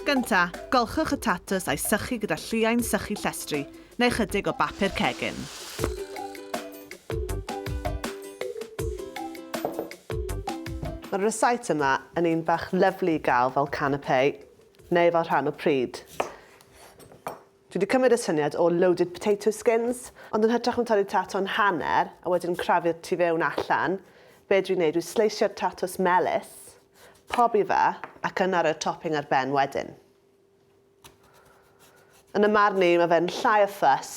Gynta, golchwch y tatws a'i sychu gyda lliain sychu llestri, neu ychydig o bapur cegin. Mae'r recite yma yn un bach lyflu i gael fel canapé neu fel rhan o pryd. Dwi 'di cymryd y syniad o loaded potato skins, ond yn hytrach na torri tato'n hanner a wedyn crafu'r tu fewn allan, be' dwi'n neud yw sleisio'r tatos melys, pobi fe, ac yna roi'r topping ar ben wedyn. Yn 'y marn i, mae fe'n llai o ffys,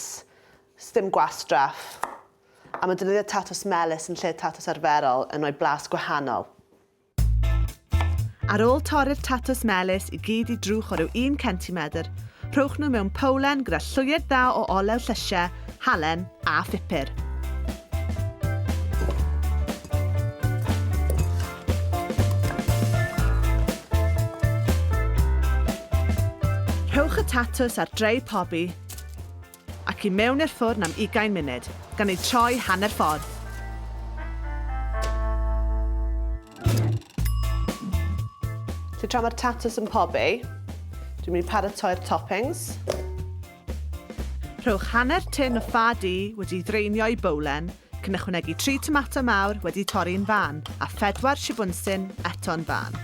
sdim gwastraff, a mae defnyddio tatos melys yn lle tatos arferol yn rhoi blas gwahanol. Ar ôl torri'r tatws melys i gyd i drwch o ryw un centimedr, rhowch nhw mewn powlen gyda llwyed dda o olew llysiau, halen a phupur. Rhowch y tatws ar drei pobi Ac i mewn i'r ffwrn am ugain munud, gan eu troi hanner ffordd. So tra mae'r tatws yn pobi, dwi'n mynd i paratoi'r toppings. Rhowch hanner tin o ffa du wedi ei ddraenio i bowlen, Cyn ychwanegu tri tomato mawr wedi torri yn fân a phedwar shibwnsyn eto'n fân.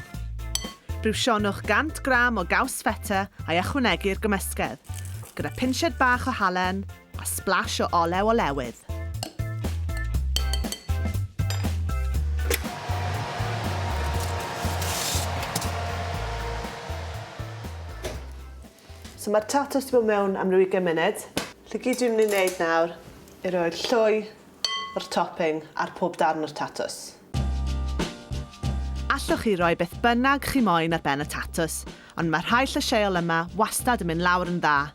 Briwsionwch 100 gram o gaws feta a'i ychwanegu i'r gymysgedd, gyda phinsied bach o halen a sblash o olew olewydd. So mae'r tatws di bod mewn am ryw ugain munud. Felly gyd dwi'n mynd i wneud nawr yw roi'r llwy o'r topping ar pob darn o'r tatws. Allwch chi roi beth bynnag chi moyn ar ben y tatws, ond mae rhai llysieuol yma wastad yn mynd lawr yn dda.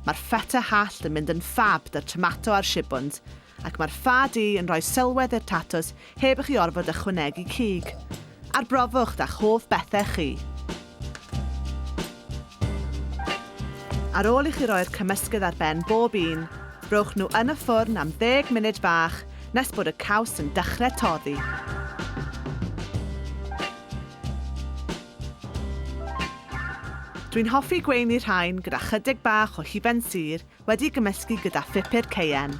Mae'r feta hallt yn mynd yn ffab 'da'r tomato a'r shibwns, ac mae'r ffa du yn rhoi sylwedd i'r tatws heb i chi orfod ychwanegu cig. Arbrofwch 'da'ch hoff bethau chi. Ar ôl i chi roi'r cymysgedd ar ben bob un, rhowch nhw yn y ffwrn am ddeg munud bach nes bod y caws yn dechrau toddi. Dwi'n hoffi gweini rhain gyda chydig bach o hufen sur Wedi gymysgu gyda phupur cayenne.